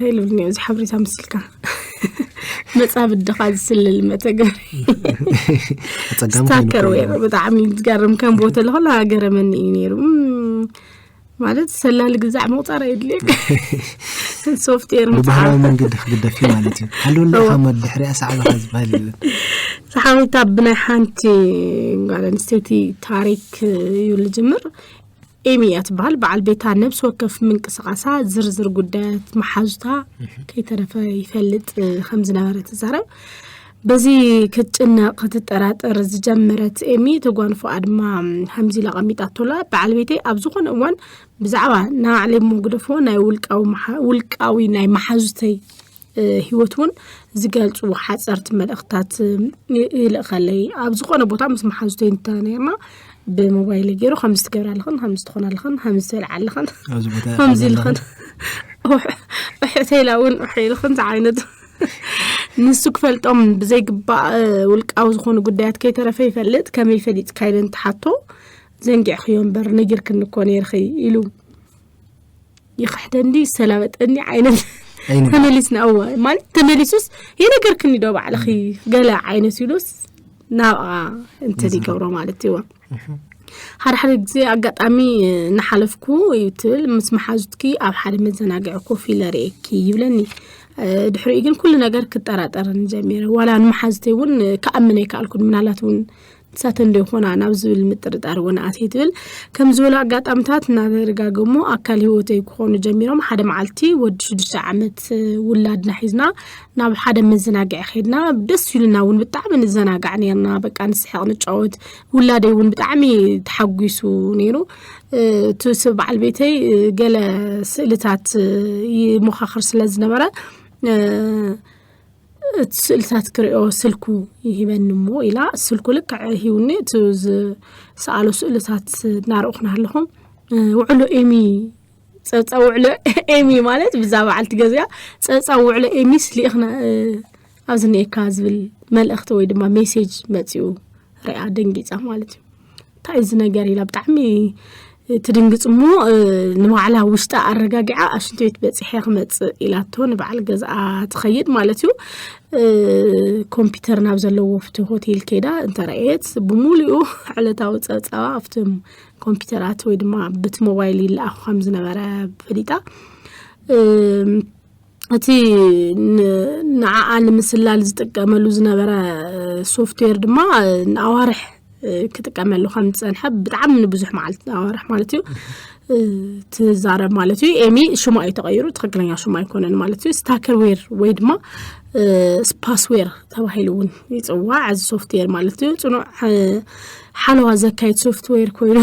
ኢሉኒ እዚ ሓበሬታ ምስልካ መፃብድ ድኻ ዝስልል መተግበሪ ስታከር ወይ ብጣዕሚ ዝገርም ከም ቦተ ለኸላ ገረመኒ እዩ ነይሩ ማለት ሰላሊ ግዛዕ ምቁፃር የድልየካ ሶፍትዌር ብባህላዊ መንገዲ ክግደፍ እዩ ማለት እዩ ሃልወለ ሓመድ ድሕሪያ ሳዕባኻ ዝበሃል የለን ሰሓዊታ ብናይ ሓንቲ ጓል ኣንስተይቲ ታሪክ እዩ ዝጅምር ኤሚ እያ ትበሃል በዓል ቤታ ነብሲ ወከፍ ምንቅስቓሳ ዝርዝር ጉዳያት መሓዙታ ከይተረፈ ይፈልጥ እ፣ ከም ዝነበረ ትዛረብ በዚ ክትጭነቕ ክትጠራጠር ዝጀመረት ኤሚ እቲ ጓንፎ ኣድማ ከምዚ ኢላ ቀሚጣቶላ በዓል ቤተይ ኣብ ዝኾነ እዋን ብዛዕባ ንባዕለይ እሞ ግደፎ ናይ ውልቃዊ መሓ- ውልቃዊ ናይ መሓዙተይ ሂወት እውን ዝገልፁ ሓፀርቲ መልእኽትታት ይልእኸለይ ኣብ ዝኾነ ቦታ ምስ መሓዙተይ እንተነይርና ብሞባይለይ ገይሩ ከምዚ ትገብራ ኣለኽን ከምዚ ትኾና ኣለኽን ከምዚ ትበልዓ ኣለኽን ኣብዚ ቦታ ኢኻ ከምዚ ዘለኻ። ኢልኽን እሕተይላ እውን እሕ ኢልኽን ዝዓይነቱ ንሱ ክፈልጦም ብዘይግባእ እ፣ ውልቃዊ ዝኾኑ ጉዳያት ከይተረፈ ይፈልጥ ከመይ ፈሊጥካ ኢለ እንትሓቶ ዘንጊዕኽዮ እምበር ነጊርክኒ እኮ ነይርኺ ኢሉ ይኽሕደኒ ይሰላበጠኒ ዓይነት ኣይንበል። ተመሊስና እወ ማለት ተመሊሱስ የነገርክኒ ዶ ባዕልኺ ገለ ዓይነት ኢሉስ ናብኣ እንትን ይገብሮ ማለት እዩወ ሓደ ሓደ ግዜ ኣጋጣሚ እናሓለፍኩ እዩ ትብል ምስ መሓዙትኪ ኣብ ሓደ መዘናግዒ ኮፍ ኢለ ርእየኪ ይብለኒ እ፣ ድሕሪኡ ግን ኩሉ ነገር ክጠራጠርን ጀሚረ ዋላ ንመሓዙተይ እውን ክኣምን ኣይከኣልኩን ምናልባት እውን ንሳተን ዶ ይኾና ናብ ዝብል ምጥርጣር እውን ኣትየ ትብል። ከም ዝበሉ ኣጋጣምታት እናተደጋገሙ ኣካል ህይወተይ ክኾኑ ጀሚሮም። ሓደ መዓልቲ ወዲ ሽዱሽተ ዓመት ውላድና ሒዝና ናብ ሓደ መዘናግዒ ከይድና ደስ ኢሉና እውን ብጣዕሚ ንዘናጋዕ ነርና። በቃ ንስሕቕ ንጫወት፣ ውላደይ እውን ብጣዕሚ ተሓጒሱ ነይሩ። እቲ ስ- በዓል ቤተይ እ፣ ገለ ስእልታት እ፣ ይሞኻኽር ስለ ዝነበረ እ፣ እቲ ስእልታት ክሪኦ ስልኩ ይህበኒ እሞ ኢላ ስልኩ ልክዕ ሂውኒ እቲ ዝሰኣሎ ስእልታት እናረእኹ ናለኹ ውዕሎ ኤሚ ፀብፃ ውዕሎ ኤሚ ማለት ብዛ በዓልቲ ገዚኣ ፀብፃ ውዕሎ ኤሚስ ሊእኽና ኣብዚ ኒኤካ ዝብል መልእኽቲ ወይ ድማ ሜሴጅ መፂኡ ሪኣ ደንጊፃ ማለት እዩ እንታይ እዚ ነገር ኢላ ብጣዕሚ ትድንግፅ እሞ ንባዕላ ውሽጣ ኣረጋጊዓ ኣብ ሽንቲ ቤት በፂሐ ክመፅእ ኢላቶ ንበዓል ገዝኣ ትኸይድ ማለት እዩ ኮምፒተር ናብ ዘለዎ ኣብቲ ሆቴል ከይዳ እንተረኣየት ብሙሉኡ ዕለታዊ ፀብፃባ ኣብቲ ኮምፒተራት ወይ ድማ በቲ ሞባይል ይለኣኹ ከም ዝነበረ ፈሊጣ እቲ ንዓኣ ንምስላል ዝጥቀመሉ ዝነበረ ሶፍትዌር ድማ ንኣዋርሕ ክጥቀመሉ ከም ዝፀንሐ ብጣዕሚ ንብዙሕ መዓልቲ ኣዋርሕ ማለት እዩ ትዛረብ ማለት እዩ ኤሚ ሽማ እዩ ተቐይሩ ትክክለኛ ሽማ ኣይኮነን ማለት እዩ ስታከርዌር ወይ ድማ ስፓስዌር ተባሂሉ እውን ይፅዋዕ እዚ ሶፍትዌር ማለት እዩ ፅኑዕ ሓለዋ ዘካይድ ሶፍትዌር ኮይኑ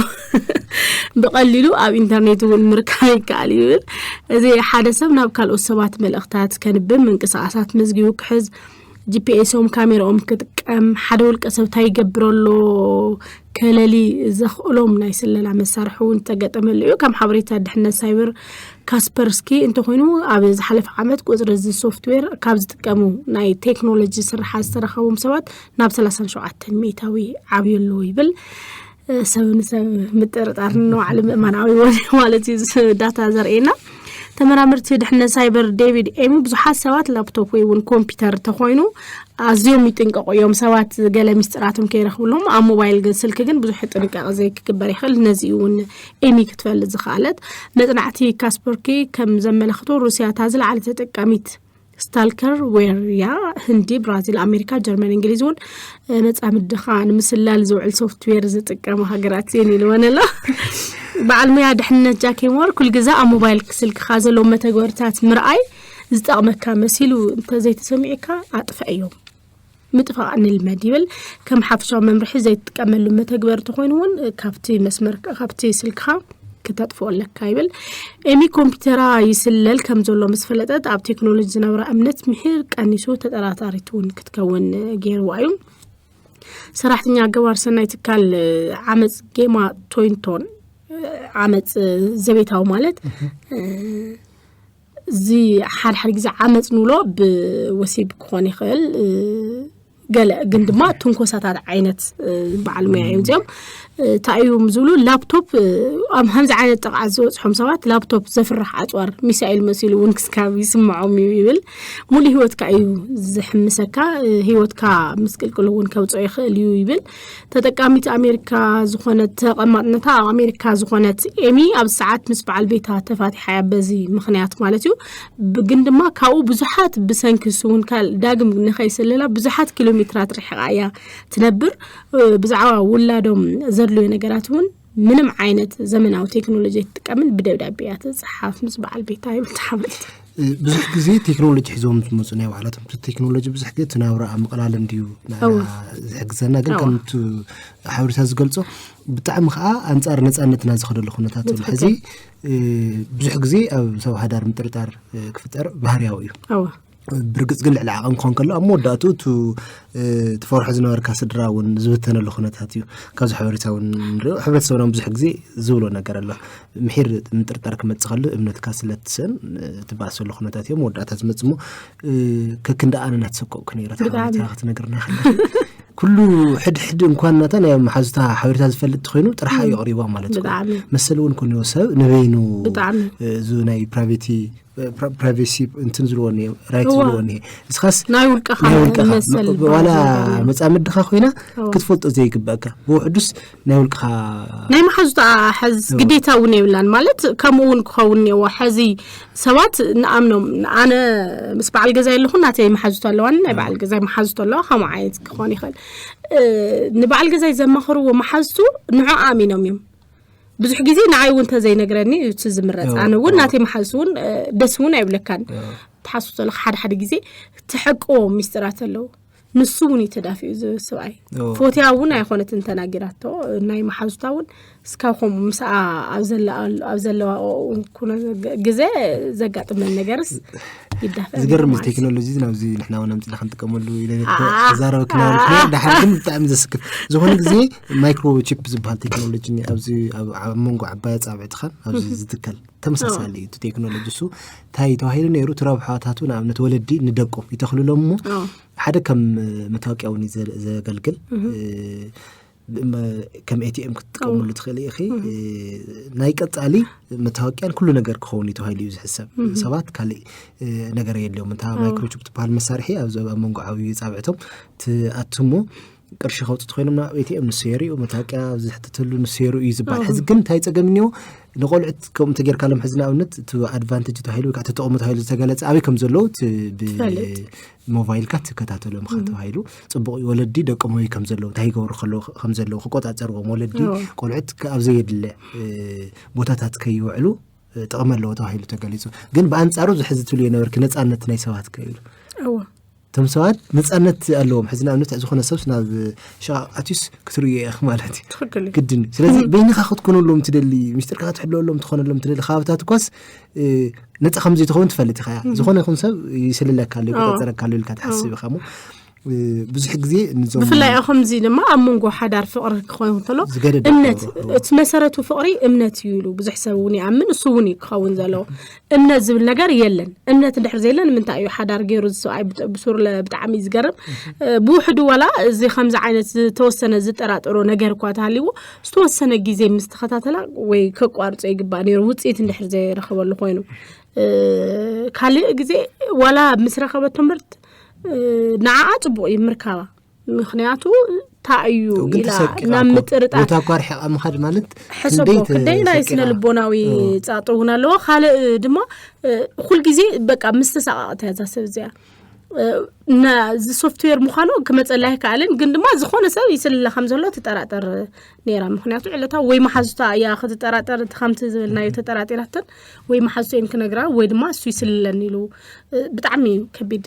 ብቐሊሉ ኣብ ኢንተርኔት እውን ምርካብ ይከኣል እዩ ይብል እዚ ሓደ ሰብ ናብ ካልኦት ሰባት መልእኽታት ከንብብ ምንቅስቓሳት መዝጊቡ ክሕዝ ጂፒኤሶም ካሜራኦም ክጥቀም ሓደ ውልቀ ሰብ እንታይ ይገብር ኣሎ ከለሊ ዘኽእሎም ናይ ስለላ መሳርሒ እውን ዝተገጠመሉ እዩ ከም ሓበሬታ ድሕነት ሳይበር ካስፐርስኪ እንተኮይኑ ኣብ ዝሓለፈ ዓመት ቁፅሪ እዚ ሶፍትዌር ካብ ዝጥቀሙ ናይ ቴክኖሎጂ ስራሓት ዝተረከቦም ሰባት ናብ ሰላሳን ሸውዓተን ሚእታዊ ዓብዩሉ ይብል ሰብ ንሰብ ምጥርጣር ንባዕሉ ምእማናዊ ማለት እዩ ዳታ ዘርእየና ተመራመርቲ ድሕነት ሳይበር ዴቪድ ኤሚ ብዙሓት ሰባት ላፕቶፕ ወይ እውን ኮምፒውተር ተኮይኑ ኣዝዮም ይጥንቀቁ እዮም ሰባት ገለ ሚስጢራቶም ከይረክብሎም ኣብ ሞባይል ስልኪ ግን ብዙሕ ጥንቃቄ ዘይክግበር ይኽእል ነዚ እውን ኤሚ ክትፈልጥ ዝኽኣለት መፅናዕቲ ካስፐርኪ ከም ዘመላክቶ ሩስያ እታ ዝለዓለ ተጠቃሚት ስታልከር ዌርያ ህንዲ ብራዚል ኣሜሪካ ጀርመን እንግሊዝ እውን መፃምድኻ ንምስላል ዝውዕል ሶፍትዌር ዝጥቀሙ ሃገራት እየን ኢልወን ኣሎ በዓል ሙያ ድሕንነት ጃኬሞር ኩል ግዛ ኣብ ሞባይል ስልክኻ ዘለዎም መተግበርታት ምርኣይ ዝጠቕመካ መሲሉ እንተዘይተሰሚዑካ ኣጥፍዐ እዮም ምጥፋእ ንልመድ ይብል ከም ሓፍሻዊ መምርሒ ዘይትጥቀመሉ መተግበሪ ተኮይኑ እውን ካብቲ መስመር ካብቲ ስልክኻ ክተጥፍኦ ኣለካ ይብል ኤሚ ኮምፒውተራ ይስለል ከም ዘሎ ምስ ፈለጠት ኣብ ቴክኖሎጂ ዝነበራ እምነት ምሒር ቀኒሱ ተጠራጣሪት እውን ክትከውን ገይርዋ እዩ ሰራሕተኛ ገባር ሰናይ ትካል ዓመፅ ጌማ ቶይንቶን ዓመፅ ዘቤታዊ ማለት እዚ ሓደ ሓደ ግዜ ዓመፅ ንብሎ ብወሲብ ክኾን ይኽእል ገለ ግን ድማ ትንኮሳታት ዓይነት በዓል ሙያ እዮም እዚኦም እንታይ እዮም ዝብሉ ላፕቶፕ ኣብ ከምዚ ዓይነት ጥቕዓት ዝበፅሖም ሰባት ላፕቶፕ ዘፍርሕ ኣፅዋር ሚሳኤል መሲሉ እውን ክስካብ ይስምዖም እዩ ይብል ሙሉእ ሂወትካ እዩ ዝሕምሰካ ሂወትካ ምስቅልቅል እውን ከውፅኦ ይኽእል እዩ ይብል ተጠቃሚት ኣሜሪካ ዝኾነት ተቐማጥነታ ኣብ ኣሜሪካ ዝኾነት ኤሚ ኣብ ሰዓት ምስ በዓል ቤታ ተፋቲሓ እያ በዚ ምክንያት ማለት እዩ ብ- ግን ድማ ካብኡ ብዙሓት ብሰንኪ እሱ እውን ካል ዳግም ንኸይስልላ ብዙሓት ኪሎ ሜትራት ርሕቃ እያ ትነብር እ፣ ብዛዕባ ውላዶም ዘድልዮ ነገራት እውን ምንም ዓይነት ዘመናዊ ቴክኖሎጂ ኣይትጥቀምን ብደብዳቤ እያ ትፅሓፍ ምስ በዓል ቤታ ይምትሓመልት ብዙሕ ግዜ ቴክኖሎጂ ሒዞም ዝመፁ ናይ ባዕላቶም እቲ ቴክኖሎጂ ብዙሕ ግዜ ትናብራ ኣብ ምቕላል እንድዩ ዝሕግዘና ግን ከምቲ ሓበሬታ ዝገልፆ ብጣዕሚ ከዓ ኣንፃር ነፃነትና ዝኸደሉ ኩነታት ኣሎ ሕዚ ብዙሕ ግዜ ኣብ ሰብ ሃዳር ምጥርጣር ክፍጠር ባህርያዊ እዩ ብርግፅ ግን ልዕሊ ዓቐን ክኾን ከሎ ኣብ መወዳእቱ እቱ ትፈርሖ ዝነበርካ ስድራ እውን ዝብተነሉ ኩነታት እዩ ካብዚ ሓበሬታ እውን ንሪኦ ሕብረተሰብና ብዙሕ ግዜ ዝብሎ ነገር ኣሎ ምሒር ምጥርጣር ክመፅእ ከሉ እምነትካ ስለትስእን ትባእሰሉ ኩነታት እዮም መወዳእታ ዝመፅ ሞ ከክንዲ ኣነ ናተሰቀቕኩ ነረ ሓበሬታ ክትነግርና ከለ ኩሉ ሕድሕድ እንኳን ናታ ናይ መሓዙታ ሓበሬታ ዝፈልጥ ኮይኑ ጥራሕ እዩ ኣቕሪባ ማለት እዩ መሰል እውን ኮንዎ ሰብ ንበይኑ እዚ ናይ ፕራቬቲ ፕራይቬሲ እንትን ዝልዎ እኒ ራይት ዝልዎ እኒ እስኻስ ናይ ውልቀኻ ናይ ውልቀኻ መሰል ዝበሃል ዋላ ነገር እዩ። መጻምድኻ ኮይና እዎ። ክትፈልጦ ዘይግበእካ ብውሕዱስ ናይ ውልቅኻ ናይ መሓዙታ ሓዝ ግዴታ እውን የብላን ማለት ከምኡ እውን ክኸውን እኒዎ ሕዚ ሰባት ንኣምኖም ኣነ ምስ በዓል ገዛ ኣለኹ ናተይ መሓዙቶ ኣለዋኒ ናይ በዓል ገዛይ መሓዙቶ ኣለዋ ከምኡ ዓይነት ክኾን ይኽእል እ፣ ንበዓል ገዛይ ዘማኽርዎ መሓዝቱ ንዑ ኣሚኖም እዮም ብዙሕ ግዜ ንዓይ እውን ተዘይነግረኒ እዩ እቲ ዝምረፅ ኣነ እውን ናተይ መሓዙ እውን ደስ እውን ኣይብለካን ትሓሱ ዘለካ ሓደ ሓደ ግዜ ትሐቅዎ ሚስጢራት ኣለዉ ንሱ እውን እዩ ተዳፊኡ እዚ ስብኣይ ፎትያ እውን ኣይኮነትን ተናጊራቶ ናይ መሓዙታ እውን እስካብ ከምኡ ምስኣ ኣብ ዘለዋ ኩነ ግዜ ዘጋጥመን ነገርስ ይዳፈ ዝገርም እዚ ቴክኖሎጂ ናብዚ ንሕና እውን ኣምፅና ክንጥቀመሉ ኢለ ክዛረበ ክናበልኩ ዳሓር ግን ብጣዕሚ ዘስክፍ ዝኾነ ግዜ ማይክሮቺፕ ዝበሃል ቴክኖሎጂ ኣብዚ ኣብ መንጎ ዓባይ ኣፃብዕትኻን ኣብዚ ዝትከል ተመሳሳሊ እዩ ቴክኖሎጂ እሱ እንታይ ተባሂሉ ነይሩ እቲ ረብሓታቱ ንኣብነት ወለዲ ንደቆም ይተኽልሎም እሞ ሓደ ከም መታወቂያ እውን እዩ ዘገልግል ከም ኤቲኤም ክትጥቀመሉ ትኽእል ኢኺ ናይ ቀፃሊ መታወቂያን ኩሉ ነገር ክኸውን እዩ ተባሂሉ እዩ ዝሕሰብ ሰባት ካልእ ነገር የድልዮም እንታ ማይክሮቺፕ ትበሃል መሳርሒ ኣብ መንጎ ዓብዩ ፃብዕቶም ትኣትሞ ቅርሺ ከውፅእ ኮይኖም ናብ ኤቲኤም ንሰየሩ እዩ መታወቂያ ዝሕትተሉ ንሰየሩ እዩ ዝበሃል ሕዚ ግን እንታይ ፀገም እኒኦ ንቆልዑት ከምኡ ተጌርካሎም ሕዚ ንኣብነት እቲ ኣድቫንቴጅ ተባሂሉ ወይ ከዓ ተጠቕሙ ተባሂሉ ዝተገለፀ ኣበይ ከም ዘለዉ ብሞባይልካ ትከታተሎ ምካ ተባሂሉ ፅቡቅ እዩ ወለዲ ደቆም ኣበይ ከም ዘለዉ እንታይ ይገብሩ ከም ዘለዉ ክቆፃፀርዎም ወለዲ ቆልዑት ኣብ ዘየድለ ቦታታት ከይውዕሉ ጥቕሚ ኣለዎ ተባሂሉ ተገሊፁ ግን ብኣንፃሩ ዝሕዚ ትብሉ የነበርኪ ነፃነት ናይ ሰባት ከይሉ እቶም ሰባት ነፃነት ኣለዎም ሕዚ ንኣብነት ዝኾነ ሰብስ ናብ ሸቓቕ ኣትዩስ ክትርእዮ እየ ማለት እዩ ትኽክል እዩ ግድን እዩ ስለዚ በይንኻ ክትኮነሎም ትደሊ ምስጢርካ ክትሕለወሎም ትኾነሎም ትደሊ ከባብታት እኳስ እ፣ ነፃ ከም ዘይትኸውን ትፈልጥ ኢኻ እያ ዝኾነ ይኹን ሰብ ይስልለካ ኣሎ ይቆፃፀረካ ኣሎ ኢልካ ትሓስብ ኢኻ እሞ እ፣ ብዙሕ ግዜ ንዞም ብፍላይ ኣብ ከምዚ ድማ ኣብ መንጎ ሓዳር ፍቕሪ ክኸውን ከሎ ዝገደደ እምነት ክኸውን። እቲ መሰረቱ ፍቕሪ እምነት እዩ ኢሉ ብዙሕ ሰብ እውን ይኣምን እሱ እውን እዩ ክኸውን ዘለዎ እምነት ዝብል ነገር የለን እምነት እንድሕር ዘየለ ንምንታይ እዩ ሓዳር ገይሩ እዚ ሰብኣይ ብጥ- ብሱርለ ብጣዕሚ እዩ ዝገርም እ፣ ብውሕዱ ዋላ እዚ ከምዚ ዓይነት ዝተወሰነ ዝጠራጠሮ ነገር እኳ ተሃልይዎ ዝተወሰነ ግዜ ምስ ተኸታተላ ወይ ከቋርፆ ይግባእ ነይሩ ውፅኢት እንድሕር ዘይረኸበሉ ኮይኑ እ፣ ካልእ ግዜ ዋላ ምስ ረኸበቶ ምርት ንዓኣ ፅቡቅ እዩ ምርካባ ምክንያቱ እንታይ እዩ ኢላ ናብ ምጥርጣር ቦታ እኳ ርሒቓ ምኻድ ማለት ሕሰቦ ክንደይ ናይ ስነ ልቦናዊ ፃጥ እውን ኣለዎ ካልእ ድማ ኩልግዜ በቃ ምስ ተሰቃቕት እያ እዛ ሰብ እዚኣ ነዚ ሶፍትዌር ምዃኑ ክመፀላ ኣይከኣልን ግን ድማ ዝኾነ ሰብ ይስልላ ከም ዘሎ ትጠራጠር ነይራ ምክንያቱ ዕለታ ወይ መሓዙታ እያ ክትጠራጠር እቲ ከምቲ ዝበልናዮ ተጠራጢራተን ወይ መሓዙቶ እዮም ክነግራ ወይ ድማ እሱ ይስልለን ኢሉ ብጣዕሚ እዩ ከቢድ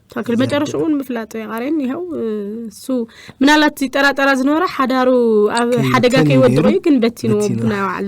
ትክክል መጨረሽኡን ምፍላጥ የቃሬን ይኸው እሱ ምናልባት ይጠራጠራ ዝነበረ ሓዳሩ ኣብ ሓደጋ ከይወድቀ እዩ ግን በቲንዎ ብናይ ባዕሉ